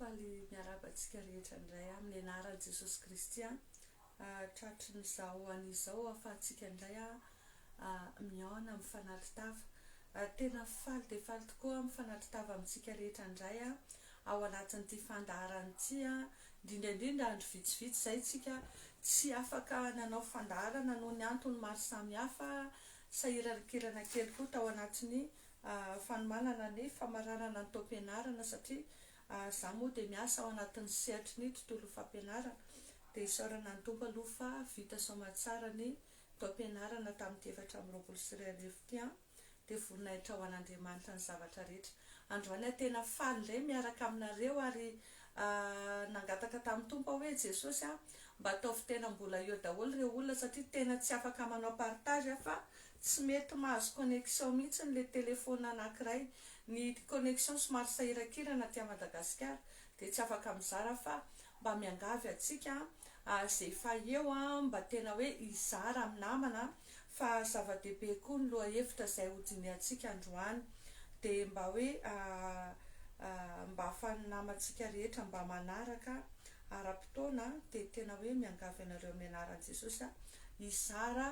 Faly miarahaba antsika rehetra indray amin'ny anaran'i Jesosy Kristy an. Tratrin'izao anio izao ahafahantsika indray mihaona amin'ny fanatri-tava. Tena faly dia faly tokoa amin'ny fanatri-tava amintsika rehetra indray an. ao anatin'ity fandaharana ity an, indrindra indrindra andro vitsivitsy izay isika tsy afaka nanao fandaharana noho ny antony maro samihafa, sahirankirana kely koa tao anatin'ny fanomanana ny famaranana ny taom-pianarana satria izaho moa dia miasa ao anatin'ny sehatry ny tontolo fampianarana dia isaorana ny Tompo aloha fa vita soamatsara ny taom-pianarana tamin'ity efatra amby roapolo sy roa arivo ity an. dia voninahitra ho an'Andriamanitra ny zavatra rehetra. Androany aho tena faly indray miaraka aminareo ary nangataka tamin'ny Tompo aho hoe Jesosy a, mba ataovy tena mbola eo daholo ireo olona satria tena tsy afaka manao partage aho fa tsy mety mahazo connexion mihitsy ny le telephone anakiray, ny connexion somary sahirakirana aty Madagasikara dia tsy afaka mizara aho fa Mba miangavy antsika ary izay efa eo mba tena hoe hizara amin'ny namana fa zava-dehibe koa ny lohahevitra izay hodinihantsika androany dia mba hoe mba ahafan'ny namantsika rehetra mba manaraka ara-potoana dia tena hoe miangavy anareo amin'ny anaran'i Jesosy aho hizara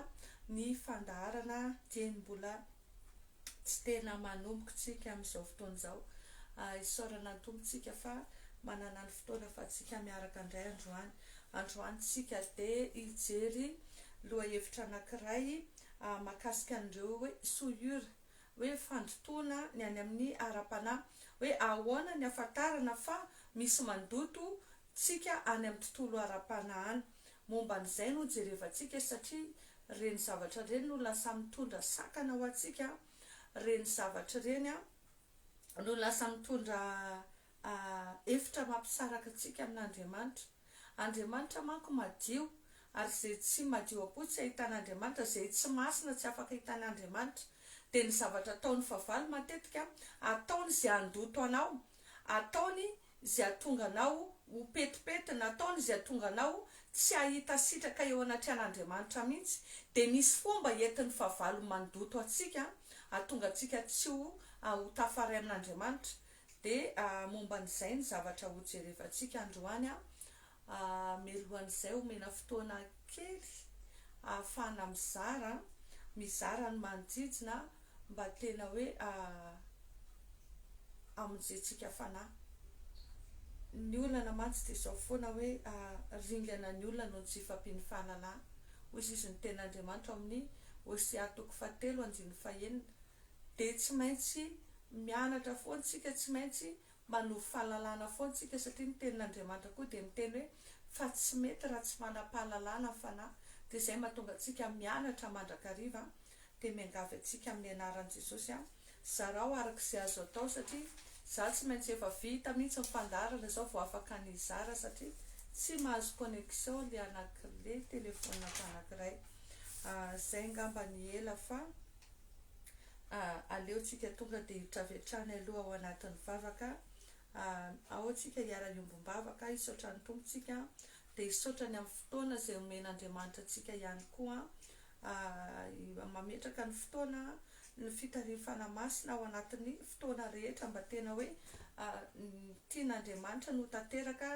ny fandaharana dieny mbola tsy tena manomboka tsika amin'izao fotoana izao. Isaorana ny Tompo tsika fa manana ny fotoana afatsika miaraka indray androany. Androany tsika dia hijery lohahevitra anakiray mahakasika an'ireo hoe souillures, hoe fandotoana ny any amin'ny ara-panahy. Hoe ahoana ny hafantarana fa misy mandoto tsika any amin'ny tontolo ara-panahiny. Momba an'izay no jerevantsika satria ireny zavatra ireny no lasa mitondra sakana ho antsika, ireny zavatra ireny no lasa mitondra hevitra mampisaraka antsika amin'Andriamanitra. Andriamanitra manko madio ary izay tsy madio am-po tsy ahitan'Andriamanitra, izay tsy masina tsy afaka ahitan'Andriamanitra. Dia ny zavatra ataon'ny fahavalo matetika, ataony izay handoto anao, ataony izay hahatonga anao ho petipety, nataony izay hahatonga anao tsy hahita sitraka eo anatrehan'Andriamanitra mihitsy, dia misy fomba entin'ny fahavalo mandoto antsika hahatonga antsika tsy ho ho tafaray amin'Andriamanitra, dia momba an'izay ny zavatra hojerevantsika androany Mialohan'izay omena fotoana kely ahafahana mizara, mizara ny manodidina mba tena hoe hamonjentsika fanahy. Ny olana mantsy dia izao foana hoe ringana ny olona noho ny tsy hifahampian'ny fahalalana. Hoy izy izy ny tenin'Andriamanitra ao amin'ny Hosea toko fahatelo andininy fahenina. Dia tsy maintsy mianatra foana isika, tsy maintsy Manovo fahalalana foana tsika satria ny tenin'Andriamanitra koa dia miteny hoe fa tsy mety raha tsy manam-pahalalana ny fanahy dia izay mahatonga antsika mianatra mandrakariva dia miangavy antsika amin'ny anaran'i Jesosy a zarao araka izay azo atao satria za tsy maintsy efa vita mihitsy ny fandaharana zao vao afaka ny hizara satria tsy mahazo connexion le anakile telefonako anankiray a zay ngamba ny ela fa Ah, aleo tsika tonga dia hiditra avy hatrany aloha ao anatin'ny vavaka ah, ao tsika hiara-hiombom-bavaka, hisaotra ny Tompo tsika, dia hisaotra ny amin'ny fotoana izay omen'Andriamanitra antsika ihany koa ah, mametraka ny fotoana, ny fitarian'ny Fanahy Masina ao anatin'ny fotoana rehetra mba tena hoe ah, ny tian'Andriamanitra no ho tanteraka,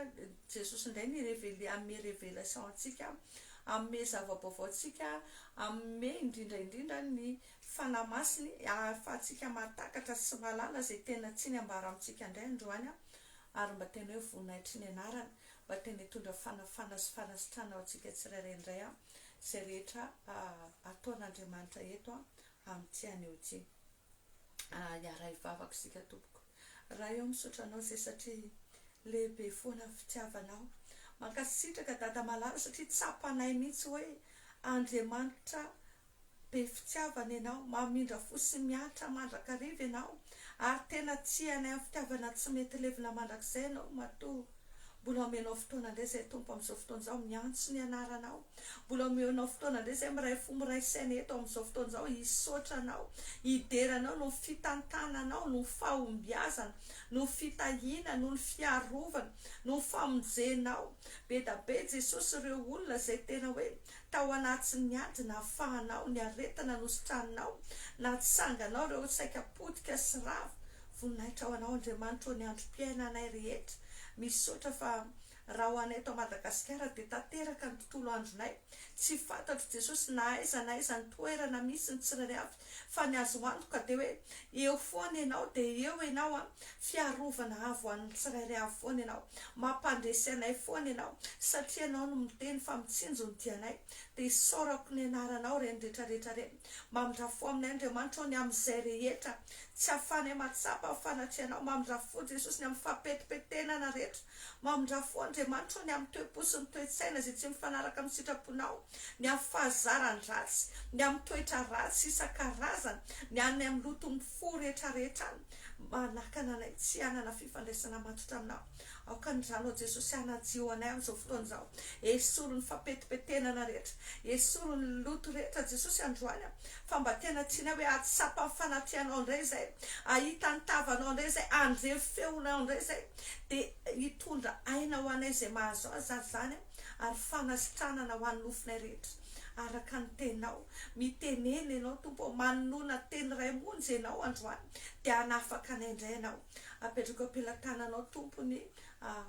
Jesosy indray ni-reveler, hanome revelation antsika Hanome zava-baovao antsika, hanome indrindra indrindra ny Fanahy Masiny ahafahantsika mahatakatra sy mahalala izay tena tsiny ambara amintsika indray androany ary mba tena hoe voninahitry ny Anarany, mba tena hitondra fanafana sy fanasitrana ho antsika tsirairay indray izay rehetra ataon'Andriamanitra eto amin'ity anio ity. Hiaraha hivavaka isika tompoko. Ray aho misaotra anao zay satria lehibe foana ny fitiavanao. Mankasitraka dada malala satria tsapanay mihitsy hoe Andriamanitra be fitiavana ianao, mamindra fo sy miantra mandrakariva ianao ary tena tia anay amin'ny fitiavana tsy mety levona mandrakizay ianao matoa. Mbola omenao fotoana indray izay Tompo amin'izao fotoana izao miantso ny anaranao. Mbola omenao fotoana indray izay miray fo miray saina eto amin'izao fotoana izao hisaotra anao, hidera anao noho ny fitantananao, noho ny fahombiazana, noho ny fitahiana, noho ny fiarovana, noho ny famonjenao. Be da be Jesosy ireo olona izay tena hoe tao anatin'ny ady nahafahanao, ny aretina nositraninao, natsanganao ireo saika potika sy rava Voninahitra ho Anao Andriamanitra ô ny androm-piainanay rehetra, misaotra fa raha ho anay eto Madagasikara dia tanteraka ny tontolo andronay, tsy fantatro Jesosy na aiza na aiza ny toerana misy ny tsirairay avy fa ny azo antoka dia hoe eo foana Ianao dia eo Ianao an, fiarovana avo ho an'ny tsirairay avy foana Ianao, mampandresy anay foana Ianao satria Ianao no miteny fa mitsinjo ny dianay dia isaorako ny Anaranao ireny rehetra rehetra ireny. Mamindra fo aminay Andriamanitra ô ny amin'izay rehetra tsy ahafahanay mahatsapa ny fanatrianao Mamindra fo Jesosy ny amin'ny fahapetipetenana rehetra Mamindra fo Andriamanitra ô ny amin'ny toe-po sy ny toe-tsaina izay tsy mifanaraka amin'ny sitraponao Ny amin'ny fahazaran-dratsy Ny amin'ny toetra ratsy isan-karazany Ny any amin'ny loton'ny fo rehetrarehetra Manakana anay tsy hanana fifandraisana matotra aminao Aoka ny Rànao Jesosy hanadio anay amin'izao fotoana izao. Esory ny fampetipetenana rehetra. Esory ny loto rehetra Jesosy androany a. Fa mba tena tianay hoe hahatsapa ny fanatrehanao indray izay. Hahita ny tavanao indray izay. Handre feonao indray izay. Dia hitondra aina ho anay izay mahazo azy ary izany a. Ary fanasitranana ho an'ny nofinay rehetra. Araka ny teninao. Mitenena ianao Tompo o. Manonona teny iray monja ianao androany. Dia hanafaka anay indray ianao. Apetrako am-pelatananao, Tompo, ny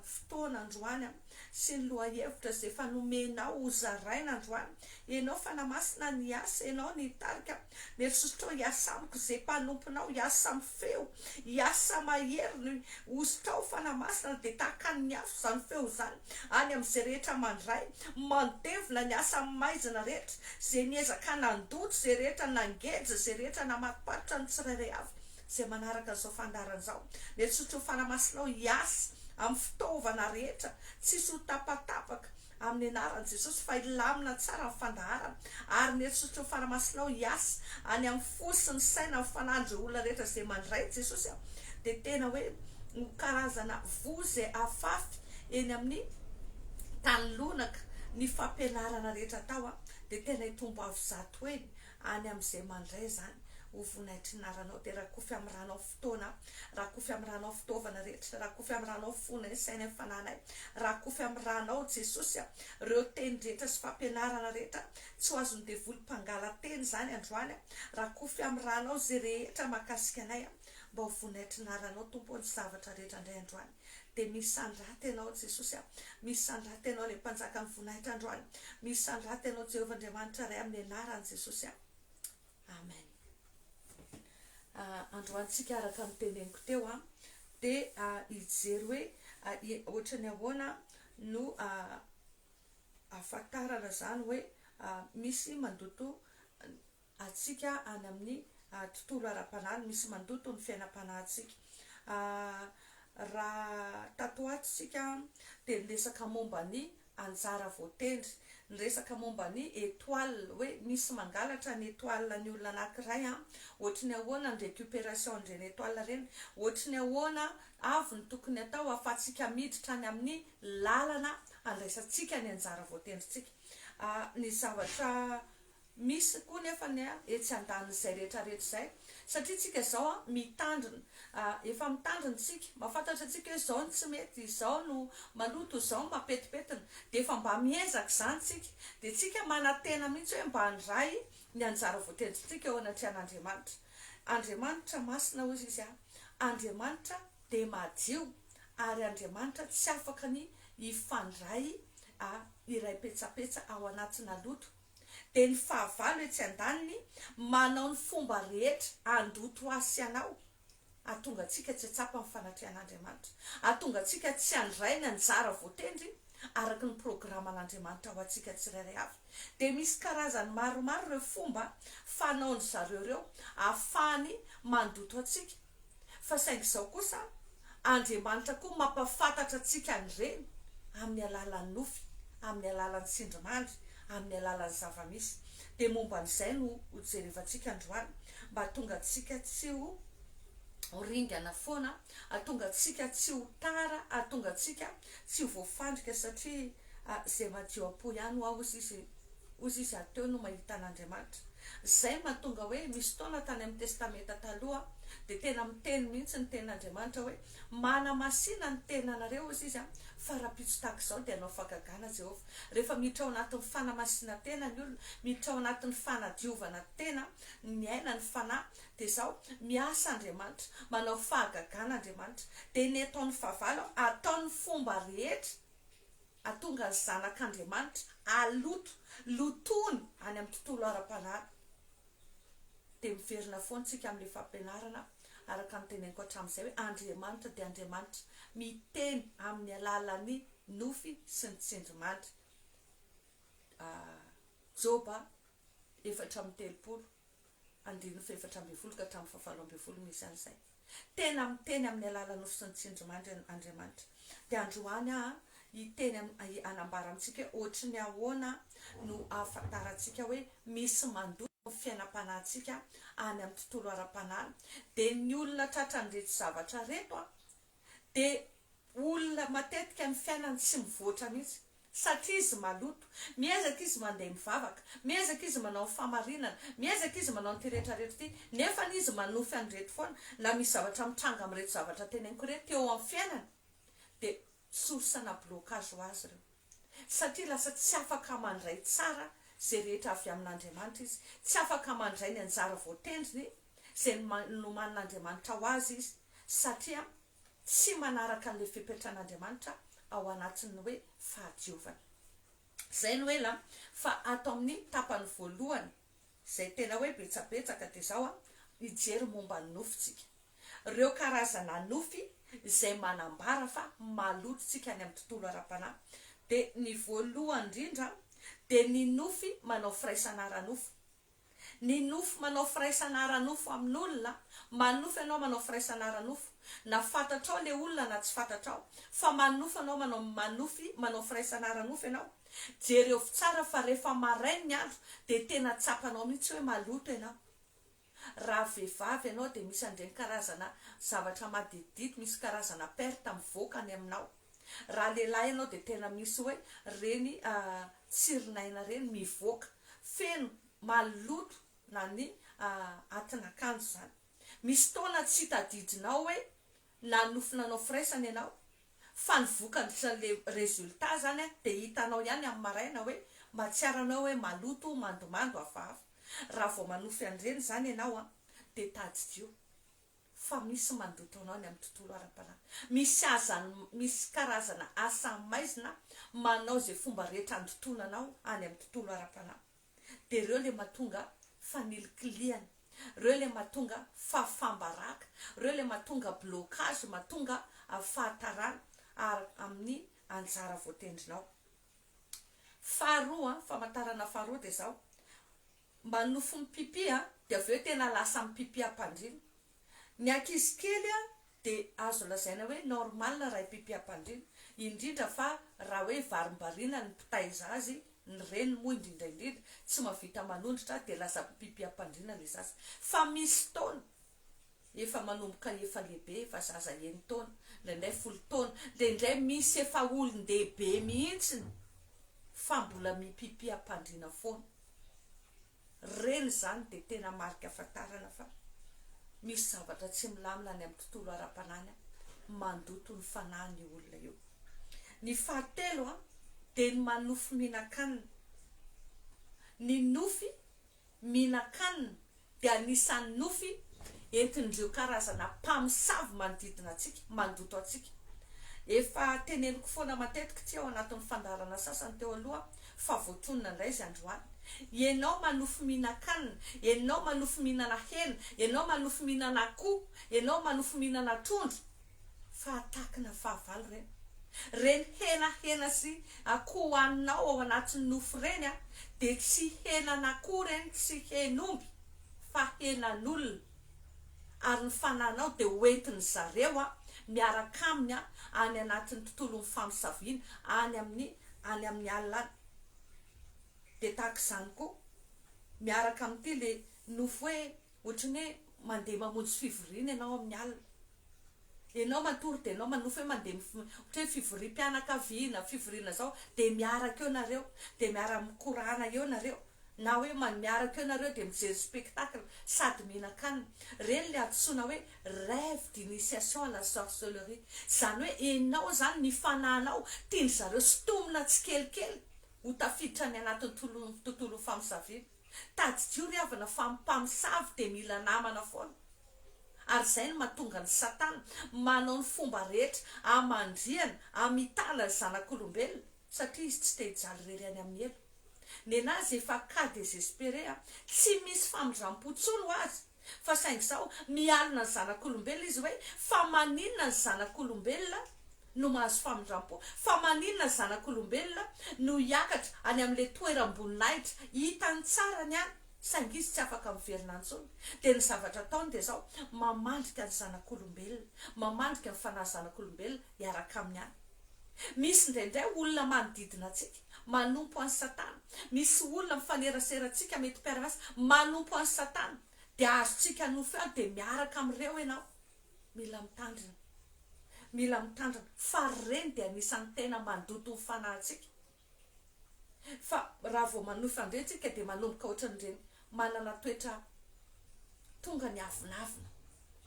fotoana androany sy ny lohahevitra izay efa nomenao hozaraina androany. Ianao Fanahy Masina ny hiasa, Ianao ny hitarika. Mieritreritrao, Hiasa amiko izay mpanomponao, hiasa amin'ny feo, hiasa mahery ny hozitrao, Fanahy Masina, dia tahaka ny afo izany feo izany any amin'izay rehetra mandray, mandevona ny asa amin'ny maizina rehetra, izay niezaka nandoto izay rehetra, nangeja izay rehetra, namatopatotra ny tsirairay avy. izay manaraka izao fandaharana izao. Miatrotro ny fanamasinao hiasa amin'ny fitaovana rehetra tsisy ho tapatapaka amin'ny anaran'i Jesosy fa hilamina tsara ny fandaharana ary miatrotro ny fanamasinao hiasa any amin'ny fo sy ny saina ny fanan'ireo olona rehetra izay mandray an'i Jesosy aho dia tena hoe ho karazana voa izay afafy eny amin'ny tany lonaka ny fampianarana rehetra atao aho dia tena hitombo avo zato heny Any amin'izay mandray izany ho vonaitry ny naranao dia rakofy amin'ny ranao fotoana, rakofy amin'ny ranao fitaovana rehetra, rakofy amin'ny ranao fonay, sainay, fananay, rakofy amin'ny ranao Jesosy a! reo teny rehetra sy fampianarana rehetra tsy ho azon'ny devoly mpangala-teny izany androany a! rakofy amin'ny ranao izay rehetra mahakasika anay a! mba ho vonaitry ny naranao Tompo o! ny zavatra rehetra indray androany. dia misandrata ianao Jesosy a! Misandrata ianao ilay mpanjaka ny voninahitra androany, misandrata ianao Jehovah Andriamanitra Ray amin'ny anarany Jesosy a! Amen. Androany tsika araka ny teneniko teo a dia hijery hoe ohatra ny ahoana no ahafantarana izany hoe misy mandoto antsika any amin'ny tontolo ara-panahy, misy mandoto ny fiainam-panahintsika. Raha tato ho ato isika dia niresaka momba ny anjara voatendry, niresaka momba ny étoile, hoe misy mangalatra ny étoile ny olona anankiray, ohatry ny ahoana ny récupération an'ireny étoile ireny, ohatry ny ahoana avy ny tokony atao ahafahantsika miditra any amin'ny lalana handraisantsika ny anjara voatendrintsika. Ny zavatra. Misy koa nefa ny etsy andanin'izay rehetra rehetra izay satria tsika zao an mitandrina efa mitandrina tsika mafantatra tsika hoe zao no tsy mety izao no maloto izao no mapetipetina dia efa mba miezaka izany tsika dia tsika manatena mihitsy hoe mba andray ny anjara voatendrintsika eo anatrehan'Andriamanitra Andriamanitra masina hozy izy an Andriamanitra dia madio ary Andriamanitra tsy afaka ny hifandray a iray petsapetsa ao anatina loto dia ny fahavalo etsy an-daniny manao ny fomba rehetra handoto ahy sy anao hahatonga antsika tsy hahatsapa ny fanatrian'Andriamanitra, hahatonga antsika tsy handray ny anjara voatendry araka ny programan'Andriamanitra ho antsika tsirairay avy. Dia misy karazany maromaro ireo fomba fanaon'izareo ireo ahafahany mandoto antsika. Fa saingy izao kosa Andriamanitra koa mampafantatra antsika an'ireny amin'ny alalan'ny nofy, amin'ny alalan'ny tsindrimandry, amin'ny alalan'ny zava-misy. Dia momba an'izay no hojerevantsika androany mba hahatonga antsika tsy ho ringana foana, hahatonga antsika tsy ho tara, hahatonga antsika tsy ho voafandrika satria. Ah ze madio apo ihany hoa hozy izy hozy izy ary teo no mahita an'Andriamanitra. Zay no mahatonga hoe misy fotoana tany amin'ny testamenta taloha dia tena miteny mihitsy ny tenin'Andriamanitra hoe manamasina ny tenanareo hozy izy an, fa rahampitso tahaka izao dia hanao fahagagana Jehovah. Rehefa miditra ao anatin'ny fanamasinantena ny olona, miditra ao anatin'ny fanadiovana tena ny miaina ny fanahy dia izao, miasa Andriamanitra, manao fahagagana Andriamanitra. Dia ny ataon'ny fahavalo an, ataony fomba rehetra. hahatonga ny zanak'Andriamanitra haloto, lotony any amin'ny tontolo ara-panahy, dia miverina foana isika amin'ilay fampianarana araka ny teneniko hatramin'izay hoe Andriamanitra dia Andriamanitra miteny amin'ny alalan'ny nofy sy ny tsindrimandry. Joba efatra amby telopolo. andininy fahefatra ambin'ny folo ka hatramin'ny fahavalo ambin'ny folo misy an'izay. Tena miteny amin'ny alalan'ny nofo sy ny tsindrimandry Andriamanitra. Dia androany aho hiteny hanambara amintsika hoe hoatry ny ahoana no ahafantarantsika hoe misy mandoko ny fiainam-panahintsika any amin'ny tontolo ara-panahy. Dia ny olona tratran'ireto zavatra ireto dia olona matetika ny fiainany tsy mivoatra mihitsy satria izy maloto, miezaka izy mandeha mivavaka, miezaka izy manao ny fahamarinana, miezaka izy manao an'ity rehetra rehetra ity nefa izy manofy an'ireto foana na misy zavatra mitranga amin'ireto zavatra teneniko ireto eo amin'ny fiainany dia source-na blocage ho azy ireo. satria lasa tsy afaka mandray tsara izay rehetra avy amin'Andriamanitra izy, tsy afaka mandray ny anjara voatendriny izay nomanin'Andriamanitra ho azy izy, satria tsy manaraka an'ilay fepetran'Andriamanitra ao anatin'ny hoe fahadiovana. Izay no ela fa ato amin'ny tapany voalohany. izay tena hoe betsabetsaka dia izao an, hijery momba ny nofy tsika. Ireo karazana nofy izay manambara fa maloto tsika any amin'ny tontolo ara-panahy dia ny voalohany indrindra dia ny nofy manao firaisana ara-nofo. Ny nofy manao firaisana ara-nofo amin'olona, manofy ianao manao firaisana ara-nofo, na fantatrao ilay olona na tsy fantatrao, fa manofy ianao manao manofy manao firaisana ara-nofo ianao, Jerevo tsara fa rehefa marain ny andro dia tena tsapanao mihitsy hoe maloto ianao. Raha vehivavy ianao dia misy an'ireny karazana zavatra maditidity misy karazana perte mivoaka any aminao. Raha lehilahy ianao dia tena misy hoe ireny tsirin'aina ireny mivoaka. Feno, maloto na ny atin'akanjo izany. Misy fotoana tsy tadidinao hoe Na nofy nanao firaisana ianao fa ny vokany sy le resultat zany a de hitanao ihany amin'ny maraina hoe mahatsiaro anao hoe maloto, mandomando, hafahafa. Raha vao manofy an'ireny zany ianao a de tadidio fa misy mandoto anao any amin'ny tontolo ara-panahy. Misy azany misy karazana asa maizina manao izay fomba rehetra handotoana anao any amin'ny tontolo ara-panahy. dia reo le matonga fanilikilihana, reo le matonga fahafambaraka, reo le matonga blocage matonga fahatarana ary amin'ny anjara voatendrinao. Faharoa an, famantarana faharoa dia zao, manofy mipipi an, dia avy eo tena lasa mipipi am-pandriana, Ny ankizy kely dia azo lazaina hoe normal raha ipipiham-pandriana, indrindra fa raha hoe varimbariana ny mpitaiza azy, ny reny moa indrindra indrindra tsy mahavita manondrotra dia lasa mpipiham-pandriana ilay zaza. Fa misy taona efa manomboka efa lehibe, efa zaza eny taona, indraindray folo taona, dia indray misy efa olon-dehibe mihitsy fa mbola mipipiham-pandriana foana. Ireny izany dia tena marika ahafantarana fa misy zavatra tsy milamina any amin'ny tontolo ara-panahiny, mandoto ny fanahiny io olona io. Ny fahatelo dia ny manofy mihinan-kanina. Ny nofy mihinan-kanina dia anisan'ny nofy entin'ireo karazana mpamosavy manodidina antsika, mandoto antsika. Efa teneniko foana matetika ity ao anatin'ny fandaharana sasany teo aloha. fa voatonona indray izy androany, ianao manofy mihinan-kanina, ianao manofy mihinana hena, ianao manofy mihinana akoho, ianao manofy mihinana trondro, fa hatakina fahavalo ireny, ireny hena hena sy akoho hohaninao ao anatin'ny nofy ireny an, dia tsy henan'akoho ireny, tsy hen'omby, fa henan'olona. ary ny fananao dia ho entin-dry zareo miaraka aminy any anatin'ny tontolon'ny famosaviana any amin'ny any amin'ny alina any. Dia tahaka izany koa, miaraka amin'ity ilay nofy hoe ohatran'ny hoe mandeha mamonjy fivoriana ianao amin'ny alina. Enao matory de enao manofa eo mandeha mif ohatra hoe fivoriam-pianakaviana, fivoriana zao de miaraka eo nareo de miara mikorana eo nareo na hoe man miaraka eo nareo de mijery spectacle sady mihinan-kanina. Reny le antsoina hoe rêve d'initiation à la sorcellerie. Zany hoe enao zany ny fanahinao tian-dry zareo sintomina tsikelikely ho tafiditra any anatin'ny tolon tontolon'ny famosaviana. Tadidio ry havana fa ny mpamosavy dia mila namana foana ary izay no mahatonga an'i Satana manao ny fomba rehetra hamandrihana, hamitana ny zanak'olombelona satria izy tsy te hijaly irery any amin'ny helo. Nenazy efa cas desespere a! Tsy misy famindram-po intsony ho azy. Fa saingy izao, mialona ny zanak'olombelona izy hoe, Fa maninona ny zanak'olombelona no mahazo famindram-po? Fa maninona ny zanak'olombelona no hiakatra any amin'ilay toeram-boninahitra hitany tsara ny any, saingy izy tsy afaka miverina intsony? Dia ny zavatra ataony dia izao, mamandrika ny zanak'olombelona, mamandrika ny fanahy zanak'olombelona hiaraka aminy any. Misy indraindray olona manodidina antsika manompo an'i Satana. Misy olona mifanerasera antsika mety mpiara-miasa manompo an'i Satana. Dia azontsika nofy aho dia miaraka amin'ireo ianao. Mila mitandrina. Mila mitandrina. Fa ireny dia anisan'ny tena mandoto ny fanahintsika. Fa raha vao manohy fandre tsika dia manomboka ohatran'ireny manana toetra tonga ny avonavona,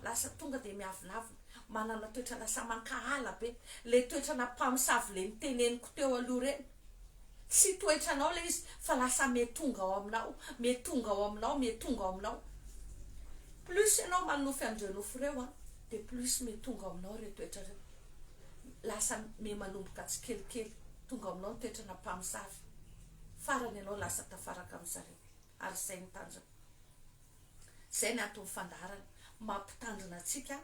lasa tonga dia miavonavona, manana toetra lasa mankahala be, ilay toetrana mpamosavy ilay niteneniko teo aloha ireny, tsy toetranao ilay izy fa lasa mihatonga ao aminao, mihatonga ao aminao, mihatonga ao aminao, plus ianao manohy fandre nofo ireo an, dia plus mihatonga ao aminao ireo toetra ireo. lasa me manomboka tsikelikely tonga ao aminao ny toetrana mpamosavy farany ianao lasa tafaraka amin zareo ary zay ny tanjona zay ny antony fandaharany mampitandrina atsika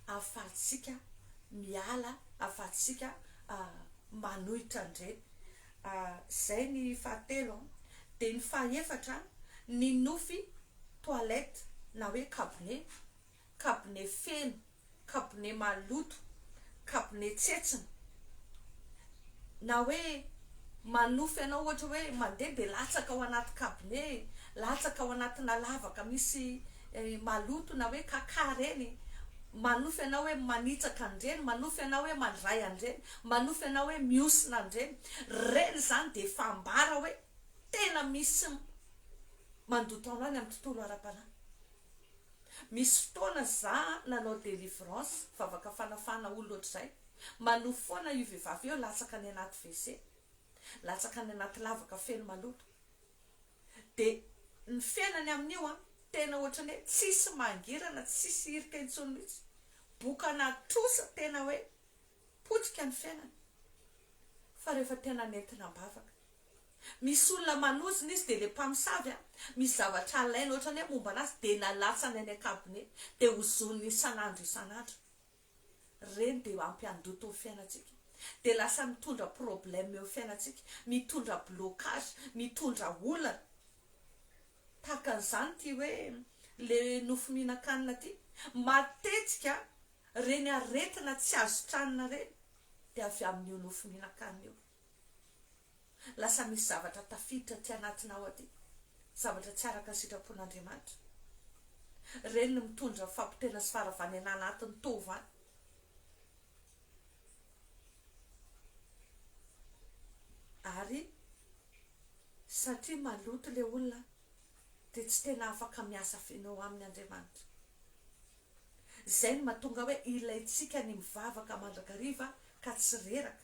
afatsika miala afatsika ah, manohitra andreny ah, zay ny fahatelo ah. de ny fahefatra ny nofy toilette na hoe kabone kabone feno, kabone maloto, kabone tsetsina, na hoe manofy anao ohatra hoe mandeha dia latsaka ao anaty kabone, latsaka ao anatina lavaka misy maloto na hoe kaka ireny, manofy anao hoe manitsaka an'ireny, manofy anao hoe mandray an'ireny, manofy anao hoe mihosina an'ireny, ireny izany dia efa ambara hoe tena misy mandoto anao any amin'ny tontolo ara-panahy. Misy fotoana za nanao delivrance vavaka fanafahana olona otrzay manohy foana io vevavy io latsaka any anaty WC latsaka any anaty lavaka feno maloto de ny fiainany amin'io an tena otrany hoe tsisy mangirana tsisy hirika intsony mitsy bokana trosa tena hoe potika ny fiainany fa refa tena nentina ambavaka Misy olona manozona izy dia le mpamosavy a, misy zavatra alainy ohatrany hoe momba anazy dia lalatsany any an-kabone dia hozoniny isan'andro isan'andro. Reny dia hampiandoto ny fiainantsika. Dia lasa mitondra problème eo fiainantsika, mitondra blocage, mitondra olana. Tahaka an'izany ity hoe le nofo mihinan-kanina ity, matetika reny aretina tsy azo tranona reny dia avy amin'io nofo mihinan-kanina io. Lasa misy zavatra tafiditra aty anatinao aty, zavatra tsy araka ny sitrapon'Andriamanitra. Ireny no mitondra fampotehana sy faharavan'aina anatiny tova any. Ary satria maloto ilay olona dia tsy tena afaka miasa feno aminy Andriamanitra. Izay no mahatonga hoe ilaintsika ny mivavaka mandrakariva ka tsy reraka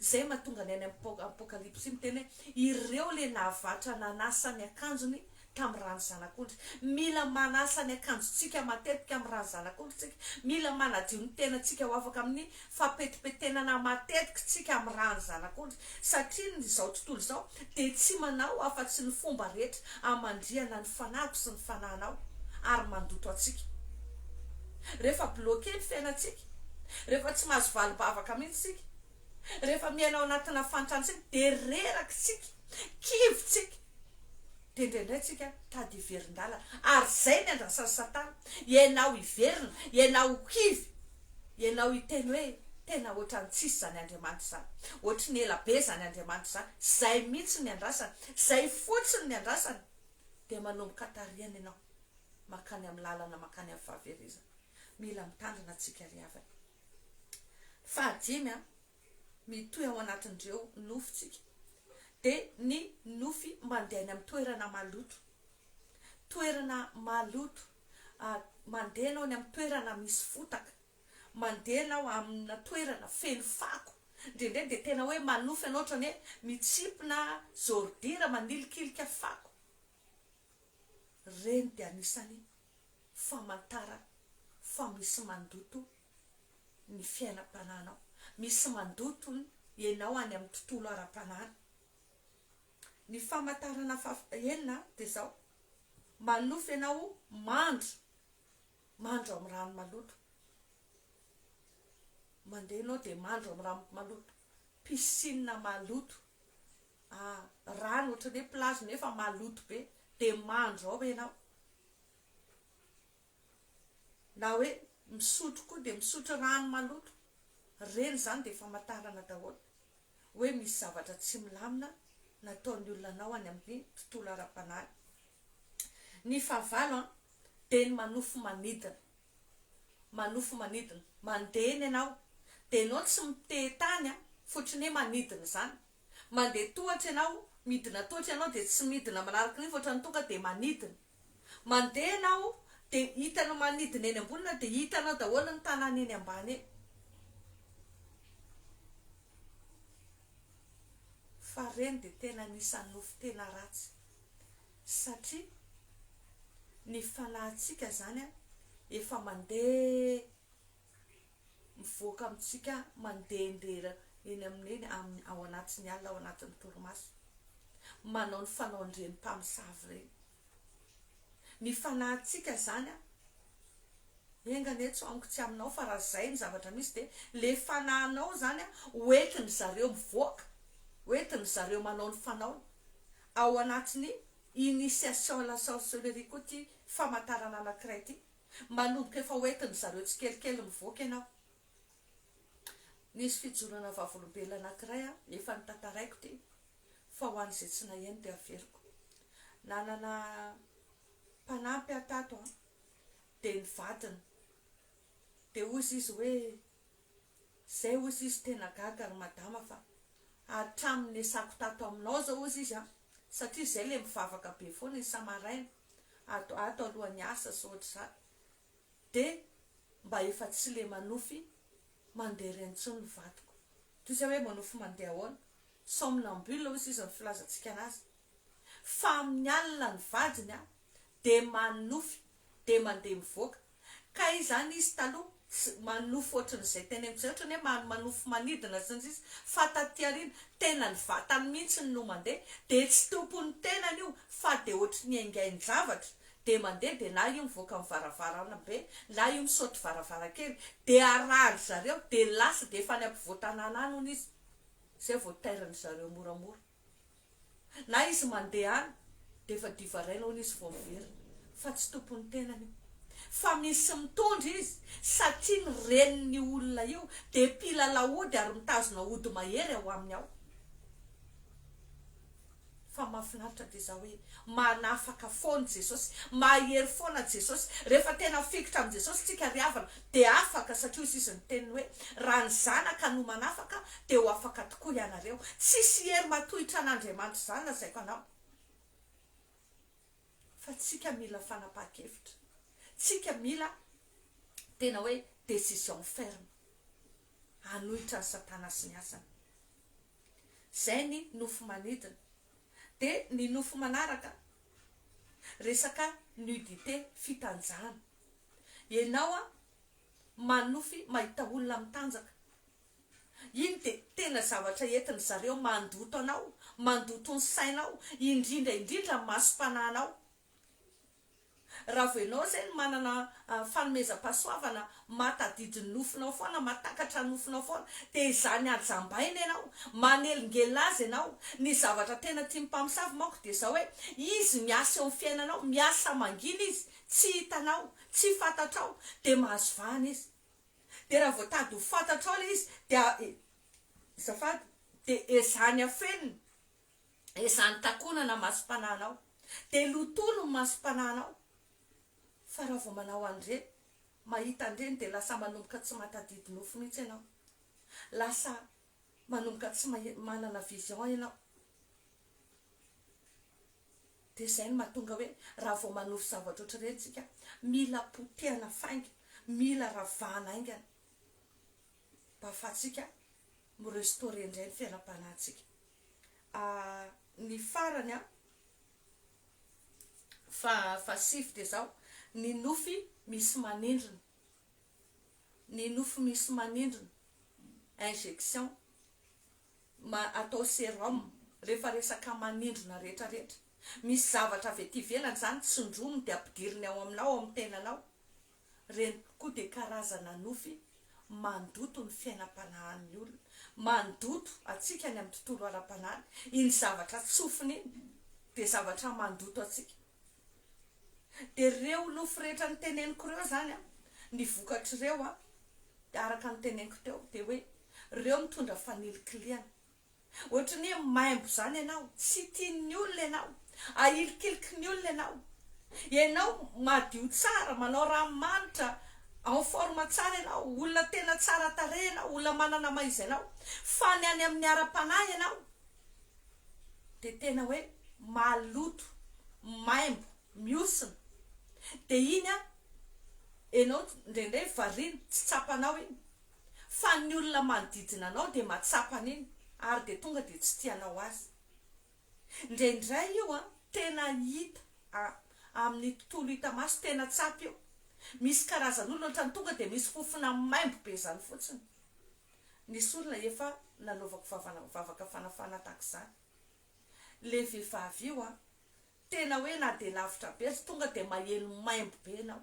Izay mahatonga ny any amin'ny Apokalypsy miteny hoe, Ireo ilay nahavatra nanasa ny akanjony tamin'ny ran'ny Zanak'ondry. Mila manasa ny akanjontsika matetika amin'ny ran'ny Zanak'ondry isika. Mila manadio ny tenantsika ho afaka amin'ny fampetimpetenana matetika isika amin'ny ran'ny Zanak'ondry, satria ny izao tontolo izao dia tsy manao afa-tsy ny fomba rehetra hamandrihana ny fanahiko sy ny fanahinao ary mandoto antsika. Rehefa bloquer ny fiainantsika. Rehefa tsy mahazo vali-bavaka mihitsy isika. Rehefa miaina ao anatina fantran-tsaina dia reraka isika, kivy isika. Dia indraindray isika tady hiverin-dalana. Ary izay ny andrasan'i Satana. Ianao hiverina, ianao ho kivy, ianao hiteny hoe, Tena hoatran'ny tsisy izany Andriamanitra izany. Hoatry ny ela be izany Andriamanitra izany. Izay mihitsy ny andrasany. Izay fotsiny ny andrasany. Dia manomboka tarihana ianao. Mankany amin'ny lalana mankany amin'ny fahaverezana. Mila mitandrina tsika ry havana. Fahadimy a, mitohy ao anatin'ireo nofontsika dia ny nofy mandeha any amin'ny toerana maloto, toerana maloto, mandeha ianao any amin'ny toerana misy fotaka, mandeha ianao amina toerana feno fako, indraindray dia tena hoe manofy ianao ohatrany hoe mitsimpona zordira manilikilika fako, ireny dia anisany famantarana fa misy mandoto ny fiainam-panahinao, misy mandoto ianao any amin'ny tontolo ara-panahy. Ny famantarana fahaenina dia izao, manonofy ianao mandro, mandro amin'ny rano maloto, mandeha ianao dia mandro amin'ny rano maloto, piscine maloto. A, rano ohatran'ny hoe plazy nefa maloto be, dia mandro ao ianao. Na hoe misotro koa dia misotro rano maloto. Ireny izany dia famantarana daholo hoe misy zavatra tsy milamina nataon'ny olona anao any amin'ny tontolo ara-panahy. Ny fahavalo an, dia ny manofy manidina. Manofy manidina. Mandeha ny anao, dia ianao tsy miteha tany an, fotry ny hoe manidina izany. Mandeha tohatra ianao, midina tohatra ianao dia tsy midina manaraky rivotra ohatran'ny tonga dia manidina. Mandeha ianao dia hitanao manidina eny ambony na dia hitanao daholo ny tanàna eny ambany eny. Fa ireny dia tena anisan'ny nofy tena ratsy satria ny fanahintsika izany efa mandeha. mivoaka amintsika mandehandeha eny amin'ny eny amin'ny ao anatin'ny alina ao anatin'ny torimaso manao ny fanaon'ireny mpamosavy ireny ny fanahintsika izany a enga anie tsy amiko tsy aminao fa raha izay ny zavatra misy dia le fanahinao izany a hoentin'ny zareo mivoaka hoentin'ny zareo manao ny fanaony ao anatin'ny initiation à la sorcellerie koa ity famantarana anankiray ity Manomboka efa hoentin-dry zareo tsikelikely mivoaka ianao. Nisy fijoroana vavolombelona anankiray aho, efa notantaraiko ity, fa ho an'izay tsy naheno dia averiko. Nanana mpanampy aho tato an, dia ny vadiny. Dia hoy izy izy hoe, izay hoy izy izy, tena gaga ry madama fa hatramin'ny niasako tato aminao izao hoy izy izy an, satria izay ilay mivavaka be foana isam-maraina, ato ato alohan'ny asa sy ohatr'izany dia mba efa tsy le manofy mandeha ireny intsony ny vadiko toy izay hoe manofy mandeha ahoana? somnambule hoy sisa ny filazantsika anazy fa amin'ny alina ny vadiny dia manofy dia mandeha mivoaka Kay izany izy taloha tsy manofy ohatran'izay teny amin'izay, ohatran'ny hoe man manofy manidina sy ny sisa, fa taty aoriana tena ny vatany mihitsy no mandeha, dia tsy tompon'ny tenany io fa dia ohatry ny aingain-javatra, dia mandeha dia na io mivoaka amin'ny varavarambe na io misaoty varavarankely dia arahan-dry zareo dia lasa dia efa any ampovoan-tanàna any hono izy izay vao tairin-dry zareo moramora. Na izy mandeha any dia efa divaraina hono izy vao very fa tsy tompon'ny tenany io fa misy mitondra izy satria ny renin'io olona io dia mpilalao ody ary mitazona ody mahery ao aminy ao. Fa mahafinaritra dia izaho hoe manafaka foana Jesosy, mahery foana Jesosy, rehefa tena fikitra amin'i Jesosy tsika ry havana Dia afaka, satria hoy Izy ny teniny hoe, Raha ny Zanaka no manafaka, dia ho afaka tokoa ianareo. Tsisy hery matohitra an'Andriamanitra izany lazaiko anao. Fa tsika mila fanapahan-kevitra. Tsika mila tena hoe décision ferme. Hanohitra an'i Satana sy ny asany. Izay ny nofo manidina. Dia ny nofo manaraka, resaka nudité, fitanjahana. Enao a manofy mahita olona mitanjaka iny de tena zavatra entin zareo mandoto anao mandoto ny sainao indrindra indrindra ny masom-panahinao raha vao enao zay no manana fanomezam-pahasoavana matadidy ny nofinao foana matakatra ny nofinao foana de izany ajambaina enao manelingelina azy enao ny zavatra tena tian'ny mpamosavy manko de zao hoe izy miasa eo amin'ny fiainanao miasa mangina izy tsy hitanao, tsy fantatrao, dia mahazo vahana izy. Dia raha voatady ho fantatrao ilay izy, dia e, zafady, dia ezaha ny afenina, ezaha ny takonana ny masom-panahinao, dia lotono ny masom-panahinao, fa raha vao manao an'ireny, mahita an'ireny, dia lasa manomboka tsy mahatadidy nofo mihitsy ianao, lasa manomboka tsy mahi, manana vision ianao. Dia izay no mahatonga hoe raha vao manofy zavatra ohatr'ireny isika, mila potehana fainga, mila ravahana haingana mba ahafahantsika mi-restaurer indray ny fiainam-panahintsika. Ny farany faha fahasivy dia izao, ny nofy misy manindrona, ny nofy misy manindrona, injection, ma atao serum rehefa resaka manindrona rehetra rehetra misy zavatra avy aty ivelany zany tsindrominy de ampidiriny ao aminao ao amin'ny tenanao reny koa de karazana nofy mandoto ny fiainam-panahan'ny olona mandoto antsika any amin'ny tontolo ara-panahy iny zavatra tsofiny iny de zavatra mandoto antsika Dia ireo lofo rehetra niteneniko ireo izany an, ny vokatr'ireo an, dia araka ny teneniko teo, dia hoe ireo mitondra fanilikilihana. Ohatry ny hoe maimbo izany ianao, tsy tian'ny olona ianao, ahilikiliky ny olona ianao. Ianao madio tsara, manao ranomanitra, en forme tsara ianao, olona tena tsara tarehy ianao, olona manana maha izy anao, fa ny any amin'ny ara-panahy ianao, dia tena hoe maloto, maimbo, mihosina, dia iny an, enao ndraindray variana, tsy tsapanao iny, fa ny olona manodidina anao dia mahatsapa an'iny ary dia tonga dia tsy tia anao azy. Ndraindray io an, tena hita a, amin'ny tontolo hita maso, tena tsapa io, misy karazan'olona ohatran'ny tonga dia misy fofona maimbo be izany fotsiny, Nisy olona efa nanaovako vavana vavaka fanafana tahaka izany le vehivavy io an! tena hoe na dia lavitra be aza tonga dia maheno maimbo be enao,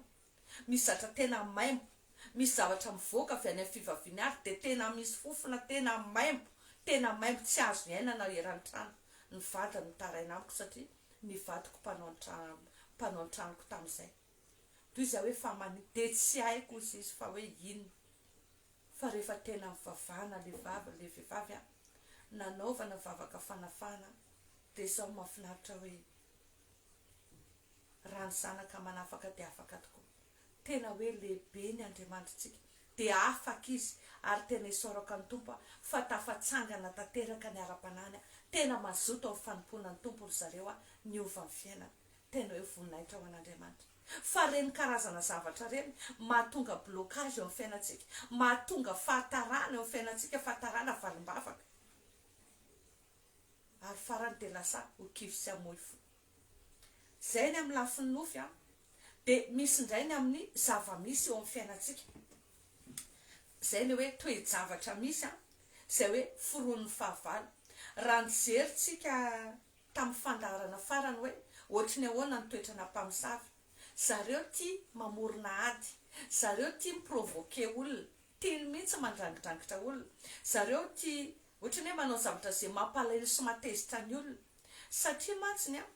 misy zatra tena maimbo, misy zavatra mivoaka avy any amin'ny fivaviany ary dia tena misy fofona tena maimbo, tena maimbo tsy azo iainana eran-trano, ny vadiny mitaraina amiko satria ny vadiko mpanao an-trano mpanao an-tranoko tamin'izay. Toy izay hoe fa mani dia tsy haiko hozy izy fa hoe inona fa rehefa tena mivavahana le vava le vehivavy an nanaovana vavaka fanafahana dia sao mafinaritra hoe raha ny zanaka manafaka dia afaka tokoa tena hoe lehibe ny andriamanitritsika dia afaka izy ary tena isaorako an'i tompo an fa tafatsangana tanteraka ny ara-panahiny an tena mazoto amin'ny fanompoana ny tompo ry zareo an niova ny fiainana Tena hoe voninahitra ho an'Andriamanitra fa ireny karazana zavatra ireny mahatonga blocage eo amin'ny fiainantsika, mahatonga fahatarana eo amin'ny fiainantsika, fahatarana valim-bavaka, ary farany dia lasa ho kivy sy hamoy fo. Izay ny amin'ny lafiny nofy an, dia misy indray ny amin'ny zava-misy eo amin'ny fiainantsika, izay ilay hoe toe-javatra misy an, izay hoe foronon'ny fahavalo. Raha nijery tsika tamin'ny fandaharana farany hoe ohatry ny ahoana ny toetranà mpamosavy. Zareo tia mamorona ady. Zareo tia mi-provoquer olona. Tiany mihitsy mandrangidrangitra olona. Zareo tia ohatry ny hoe manao zavatra izay mampalahelo sy mahatezitra ny olona. Satria mantsiny an,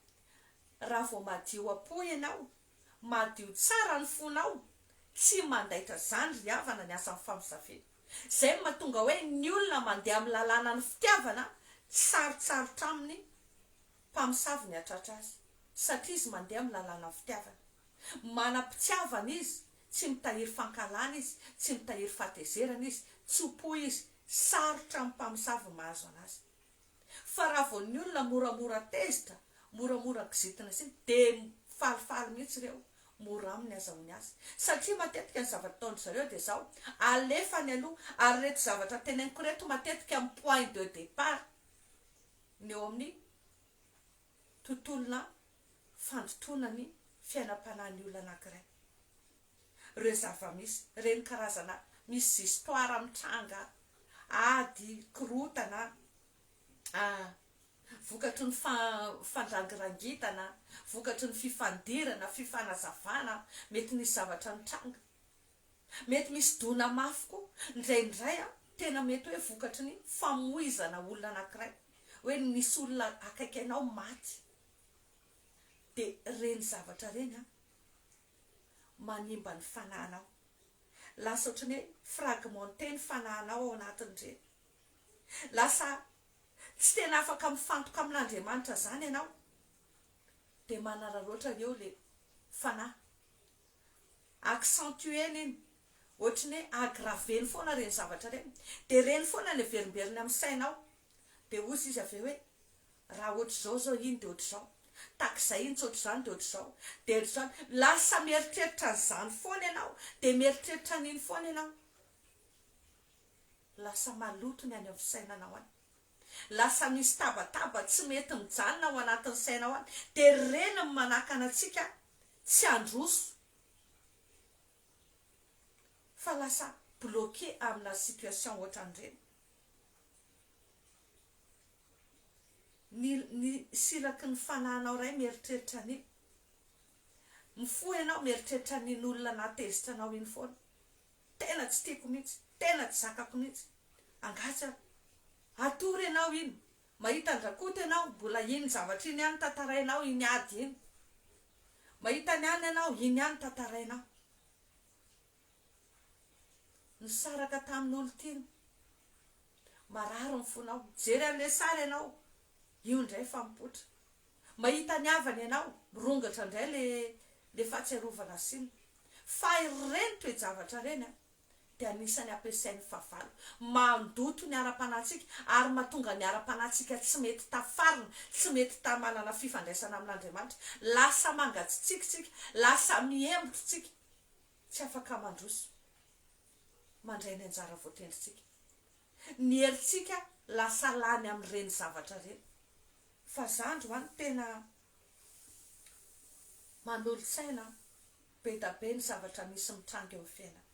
raha vao madio am-po ianao, madio tsara ny fonao, tsy mandaitra izany ry havana ny asan'ny famosaviana. Izay no mahatonga hoe ny olona mandeha amin'ny lalànan'ny fitiavana tsy sarotsarotra aminy mpamosavy ny hatratra azy satria izy mandeha amin'ny lalànan'ny fitiavana. Manam-pitiavana izy, tsy mitahiry fankahalana izy, tsy mitahiry fahatezerana izy, tso-po izy, sarotra amin'ny mpamosavy ny mahazo anazy. Fa raha vao ny olona moramora tezitra, moramora kizitina sy ny dia falifaly mihitsy ireo, mora aminy azahoany azy. Satria matetika ny zavatra ataon-dry zareo dia izao, alefany aloha, ary ireto zavatra teneniko ireto matetika amin'ny point de départ ny eo amin'ny tontolona fandotoana ny fiainam-panahin'ny olona anankiray. Ireo zava-misy, ireny karazana misy histoire mitranga, ady, korontana, vokatry ny fandrangirangitana, vokatry ny fifandirana, fifanazavana, mety nisy zavatra nitranga. Mety misy dona mafy koa, indraindray tena mety hoe vokatry ny famoizana olona anankiray, hoe nisy olona akaiky anao maty, Dia ireny zavatra ireny an, manimba ny fanahinao. Lasa ohatran'ny hoe fragmenté ny fanahinao ao anatin'ireny. Lasa tsy tena afaka mifantoka amin'Andriamanitra izany ianao. Dia manararaotra eo ilay fanahy. Accentuer-ny iny. Ohatran'ny hoe aggraver-ny foana ireny zavatra ireny. Dia ireny foana no averimberiny amin'ny sainao. Dia hozy izy avy eo hoe, Raha hoatr'izao izao iny dia hoatr'izao, takizay iny tsy hoatr'izany dia hoatr'izao, dia hoatr'izany. Lasa mieritreritra an'izany foana ianao, dia mieritreritra an'iny foana ianao. Lasa maloto ny any amin'ny fisainanao any. Lasa misy tabataba tsy mety mijanona ao anatin'ny sainao any. Dia ry reny no manakana antsika tsy handroso, fa lasa bloqué amina situation ohatran'ireny. Ny ny silaky ny fanahinao iray mieritreritra ny. Mifoha ianao mieritreritra ny n'olona naha tezitra anao iny foana. Tena tsy tiako mihitsy, tena tsy zakako mihitsy. Angaha tsy ary. Hatory ianao iny. Mahita an-dRakoto ianao, mbola iny zavatra iny ihany tantarainao, iny ady iny. Mahita ny an'ny anao, iny ihany tantarainao. Nisaraka tamin olon-tiany. Marary ny fonao. Mijery an'ilay sary ianao. Io indray fa mipoitra. Mahita ny havany ianao. Mirongatra indray ilay ilay fahatsiarovana asiana. Fa ireny toe-javatra ireny an, dia anisan'ny ampiasain'ny fahavalo. Mandoto ny ara-panahintsika ary mahatonga ny ara-panahintsika tsy mety tafarina, tsy mety ta manana fifandraisana amin'Andriamanitra. Lasa mangatsitsiaka isika. Lasa mihembotra isika. tsy afaka mandroso mandray ny anjara voatendrintsika. Ny herintsika lasa lany amin'ireny zavatra ireny. Fa za androany tena manolo-tsaina an! Be da be ny zavatra misy mitranga eo amin'ny fiainana.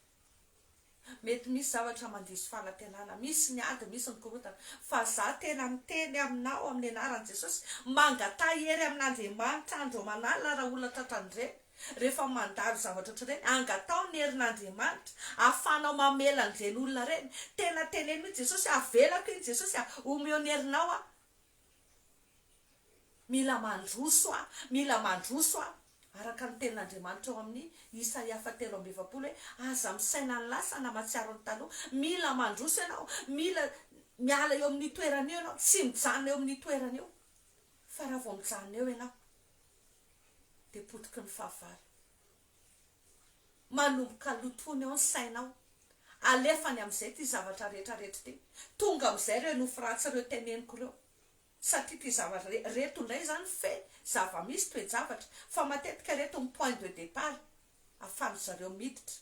Mety misy zavatra mandiso fanantenana, misy ny ady, misy ny korontana, fa za tena miteny aminao amin'ny anaran'i Jesosy, mangataha hery amin'Andriamanitra andro aman'alina raha olona tratran'ireny, rehefa mandalo zavatra ohatr'ireny, angataho ny herin'Andriamanitra ahafahanao mamela an'ireny olona ireny, tena teneno mihitsy Jesosy a, avelako iny Jesosy a, omeo ny herinao aho, mila mandroso aho, mila mandroso aho. Araka ny tenin'Andriamanitra ao amin'ny Isaia fahatelo amby efapolo hoe, Aza misaina ny lasa na mahatsiaro ny taloha. Mila mandroso ianao, mila miala eo amin'io toerana io ianao, tsy mijanona eo amin'io toerana io, fa raha vao mijanona eo ianao dia potiky ny fahavalo. Manomboka lotoina eo ny sainao, alefany amin'izay ity zavatra rehetra rehetra ity, tonga amin'izay ireo nofy ratsy ireo teneniko ireo, satria ity zava reto indray izany fe zava misy toe-javatra fa matetika reto ny point de depart afahan-dry zareo miditra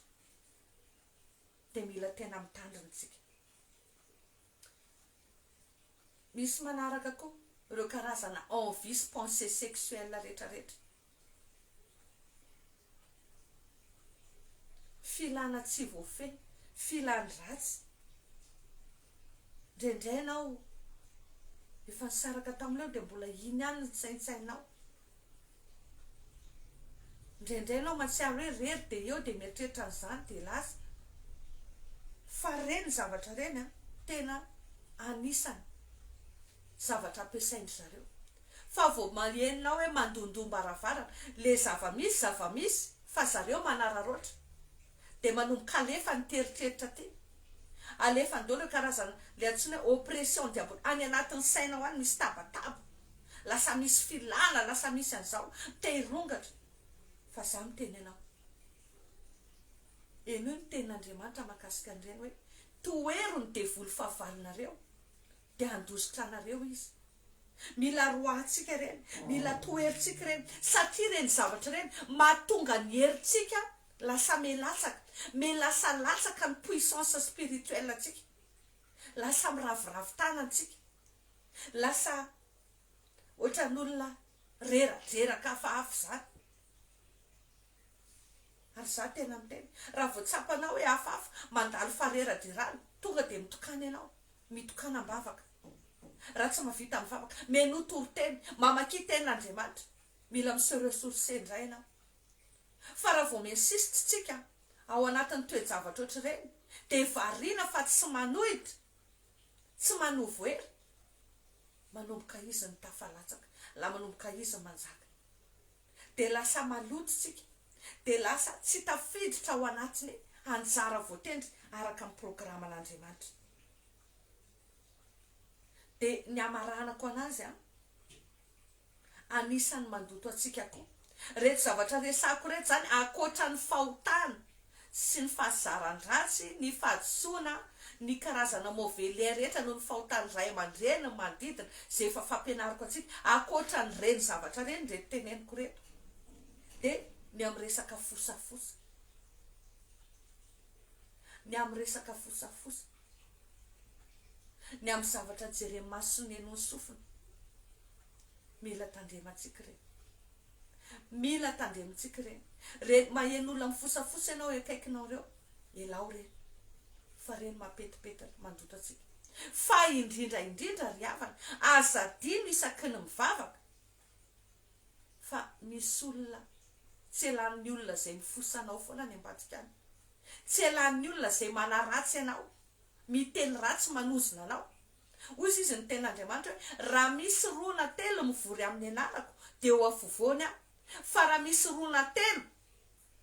dia mila tena mitandrina isika misy manaraka koa ireo karazana envie sy pensee sexuelle rehetra rehetra Filana tsy voafehy, filany ratsy. Indraindray ianao efa nisaraka tamin'ilay dia mbola iny ihany no saintsainao. Indraindray ianao mahatsiaro hoe rery dia eo dia mieritreritra an'izany dia lasa. Fa ireny zavatra ireny tena anisany zavatra ampiasain-dry zareo. fa vao malienina hoe mandondoam-baravarana le zava-misy zava-misy fa zareo manararaotra de manomboka alefa ny teritreritra aty alefany daholo reo karazana le antsoina hoe oppression diabol any anatin'ny sainao any misy tabataba lasa misy filala lasa misy an'zao te hirongatra fa za miteny anao henoy ny tenin'Andriamanitra mahakasika an'ireny hoe tohero ny devoly fahavalonareo de handositra anareo izy Mila roahantsika ireny, mila toherintsika ireny, satria ireny zavatra ireny mahatonga ny herintsika lasa me latsaka, me lasa latsaka ny puissance spirituelle antsika, lasa miraviravy tanana tsika, lasa ohatran'olona rera, jeraka hafahafa izany. Ary za tena miteny, raha vao tsapanao hoe hafahafa, mandalo fareradirana, tonga dia mitokana ianao, mitokana am-bavaka, raha tsy mahavita am-bavaka, mihainoa toriteny, mamakia Tenin'Andriamanitra, mila mi-se ressourcer indray ianao. Fa raha vao mi-insiste isika ao anatin'ny toe-javatra ohatr'ireny, dia variana fa tsy manohitra, tsy manovo hery, manomboka izy ny tafalatsaka, la manomboka izy ny manjaka. dia lasa maloto isika, dia lasa tsy tafiditra ao anatin'ny anjara voatendry araka ny programan'Andriamanitra. Dia ny hamaranako an'azy an, anisan'ny mandoto antsika koa iretsy zavatra resahiko iretsy izany, ankoatra ny fahotana. sy ny fahazaran-dratsy, ny fahadisoana, ny karazana mauvais lien rehetra noho ny fahotan'ny ray aman-dreny ny manodidina, izay efa fampianariko antsika, ankoatran'ireny zavatra ireny ireto teneniko ireto, dia ny amin'ny resaka fosafosa, ny amin'ny resaka fosafosa, ny amin'ny zavatra jeren'ny maso sy ny henon'ny sofina, mila tandremantsika ireny. Mila tandremintsika ireny. Ireny maheno olona mifosafosa ianao eo akaikinao ireo, elao ireny. Fa ireny mapetipety ireny, mandoto antsika. Fa indrindra indrindra ry havana, aza adino isaky ny mivavaka, fa misy olona tsy elan'ny olona izay mifosa anao foana any ambadika any. Tsy elan'ny olona izay manaratsy anao, miteny ratsy manozona anao. Hoy izy izy ny tena Andriamanitra hoe, Raha misy roa na telo mivory amin'ny anarako, dia eo afovoany aho. Fa raha misy roa na telo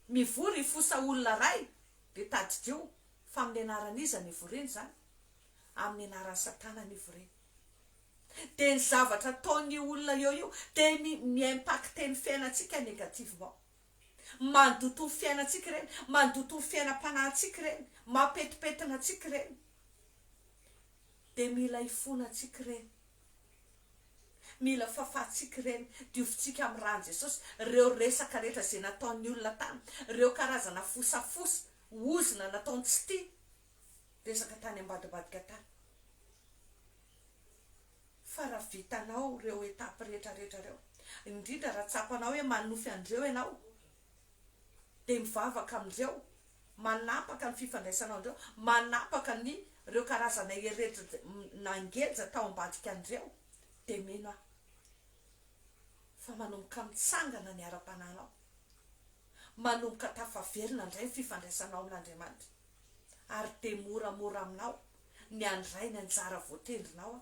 mivory hifosa olona iray, dia tadidio fa amin'ny anaran'iza no hivoriana izany? Amin'ny anaran'i Satana no hivoriana. Dia ny zavatra ataon'io olona eo io dia mi-impacter ny fiainantsika négativement. Mandoto ny fiainantsika ireny, mandoto ny fiainam-panahintsika ireny, mampetipetina antsika ireny. Dia mila hifona antsika ireny. Mila fafantsika ireny, diovintsika amin'ny ran'i Jesosy ireo resaka rehetra izay nataon'ny olona tany, ireo karazana fosafosa, ozona nataony tsy tia resaka tany ambadibadika tany. Fa raha vitanao ireo étapes rehetrarehetra ireo, indrindra raha tsapanao hoe manonofy an'ireo ianao, dia mivavaka amin'ireo, manapaka ny fifandraisanao an'ireo, manapaka ny ireo karazana eretra nangelja tao ambadika an'ireo, dia mino aho fa manomboka mitsangana ny ara-panahinao, manomboka tafaverina indray ny fifandraisanao amin'Andriamanitra. ary dia moramora aminao ny handray ny anjara voatendrinao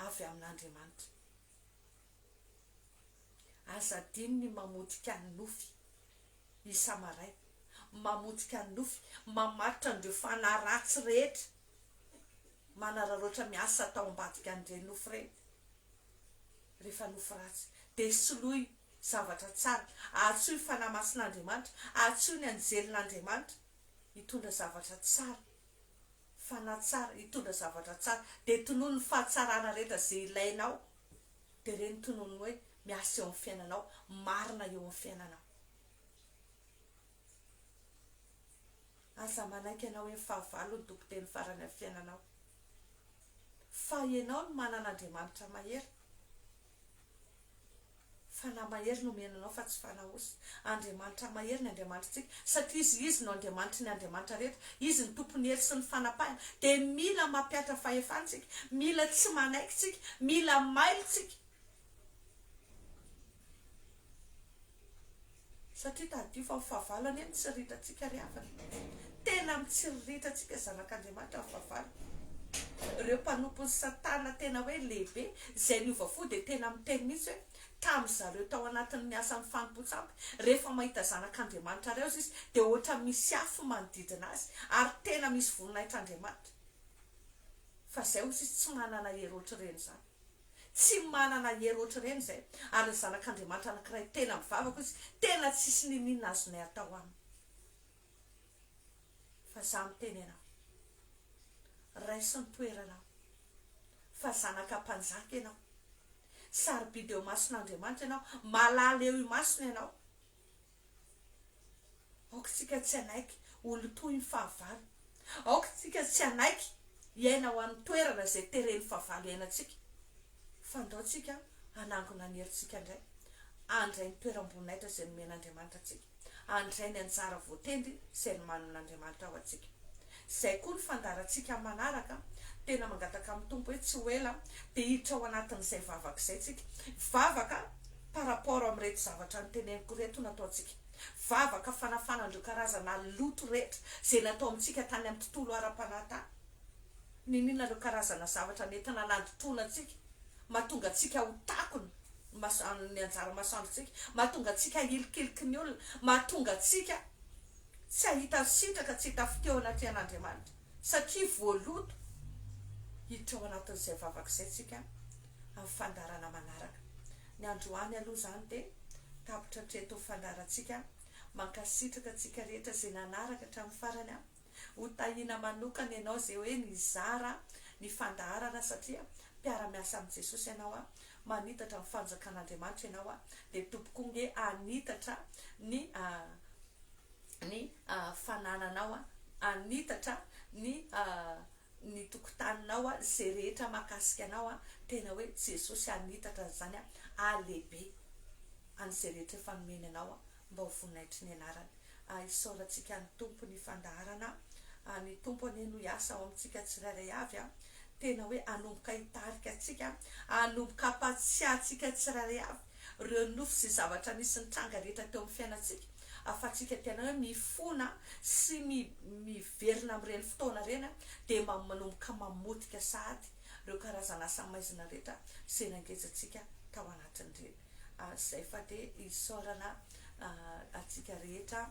avy amin'Andriamanitra. Aza adino ny mamotika ny nofy isa-maraina, mamotika ny nofy, mamaritra an'ireo fanahy ratsy rehetra manararaotra miasa tao ambadika an'ireny nofy ireny. Rehefa nofy ratsy, dia soloy zavatra tsara, antsoy ny fanahy masin'Andriamanitra, antsoy ny anjelin'Andriamanitra. hitondra zavatra tsara, fanahy tsara, hitondra zavatra tsara, dia tonony ny fahatsarana rehetra izay ilainao, dia ireny tonony ny hoe miasa eo amin'ny fiainanao, marina eo amin'ny fiainanao. Aza manaiky hanao eny fahavalo ny tompon-teny farany amin'ny fiainanao, fa ianao no manana Andriamanitra mahery, Fanahy mahery no omena anao fa tsy fanahy osy. Andriamanitra mahery ny Andriamanitritsika satria izy izy no Andriamanitry ny Andriamanitra rehetra. Izy no Tompon'ny hery sy ny fanapahana. Dia mila mampihatra fahefana isika. Mila tsy manaiky isika. Mila mailo isika. Satria tadidio fa ny fahavalo anie no tsiriritrantsika ry havana. Tena mitsiriritra-ntsika zanak'Andriamanitra ny fahavalo. Ireo mpanompon'i Satana tena hoe lehibe izay niova fo dia tena miteny mihitsy hoe tamin-dry zareo tao anatin'ny asan'ny fanompoan-tsampy, rehefa mahita zanak'Andriamanitra reoza izy dia ohatra misy afo manodidina azy ary tena misy voninahitr'Andriamanitra fa izay ozy izy tsy manana hery ohatr'ireny izany. Tsy manana hery ohatr'ireny izay. Ary ny Zanak'Andriamanitra anankiray tena mivavaka hoy izy, Tena tsisy niniana azonay atao aminy. Fa izaho miteny ianao, raiso ny toeranao, fa zanaka mpanjaka ianao, sarobidy eo imason'Andriamanitra ianao, malala eo imasony ianao. Aoka isika tsy hanaiky ho lotoin'ny fahavalo. Aoka isika tsy hanaiky hiaina ho amin'ny toerana izay teren'ny fahavalo hiainantsika. Fa andaontsika hanangona ny herintsika indray, handray ny toeram-boninahitra izay nomen'Andriamanitra antsika, handray ny anjara voatendry izay nomanin'Andriamanitra ho antsika. Izay koa ny fandaharantsika amin'ny manaraka. Tena mangataka amin'ny Tompo hoe tsy ho ela dia hiditra ao anatin'izay vavaka izay isika. Vavaka. par rapport amin'ireto zavatra noteneniko ireto no ataontsika. Vavaka fanafana an'ireo karazana loto rehetra izay natao amintsika tany amin'ny tontolo ara-panahy tany. Niniana ireo karazana zavatra nentina nandotona antsika, mahatonga antsika ho takona ny anjara masoandrontsika, mahatonga antsika hilikiliky ny olona, mahatonga antsika tsy hahita sitraka, tsy hita fitia ao anatrehan'Andriamanitra. Satria voaloto hiditra ao anatin'izay vavaka izay isika amin'ny fandaharana manaraka. Ny androany aloha izany dia tapitra hatreto ny fandaharantsika. Mankasitraka antsika rehetra izay nanaraka hatramin'ny farany. Ho tahiana manokana ianao izay hoe nizara ny fandaharana satria mpiara-miasa amin'i Jesosy ianao, manitatra ny fanjakan'Andriamanitra ianao dia topoko ange hanitatra ny ny fanananao hanitatra ny ny tokotaninao izay rehetra mahakasika anao tena hoe Jesosy hanitatra an'izany halehibe an'izay rehetra efa nomeny anao mba ho voninahitry ny anarany hisaorantsika ny Tompo ny fandaharana ny Tompo anie no hiasa ao amintsika tsirairay avy tena hoe hanomboka hitarika antsika hanomboka hampatsiahy antsika tsirairay avy ireo nofy sy zavatra nisy nitranga rehetra teo amin'ny fiainantsika, ahafahantsika tena hoe mifona sy mi miverina amin'ireny fotoana ireny an, dia ma manomboka mamotika sahady ireo karazana asa maizina rehetra izay nangejantsika tao anatin'ireny ary izay fa dia isaorana a antsika rehetra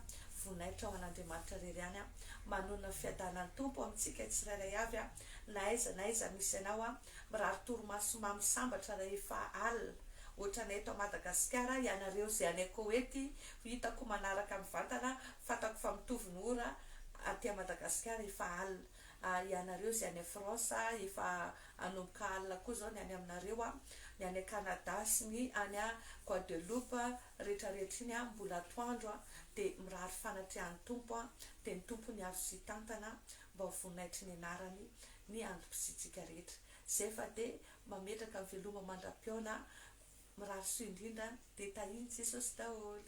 voninahitra ho an'Andriamanitra irery ihany an, manonona ny fiadanan'ny Tompo amintsika tsirairay avy an, na aiza na aiza misy anao an, Mirary torimaso mamy sambatra rahefa alina. Ohatranay eto Madagasikara, ianareo izay any Koety hitako manaraka mivantana, fantako fa mitovy ny ora aty Madagasikara efa alina. Ah, ianareo izay any France efa hanomboka alina koa izao ny any aminareo an. Ny any Canada sy ny any Guadeloupe retraretra iny an, mbola atoandro an. Dia mirary fanatriahan'ny Tompo an. Dia ny Tompo niaro sy hitantana. mba ho voninahitry ny anarany ny antom-pisiantsika rehetra. Izay fa dia mametraka ny veloma mandra-pihaona mirary soa indrindra dia tahin'i Jesosy daholo.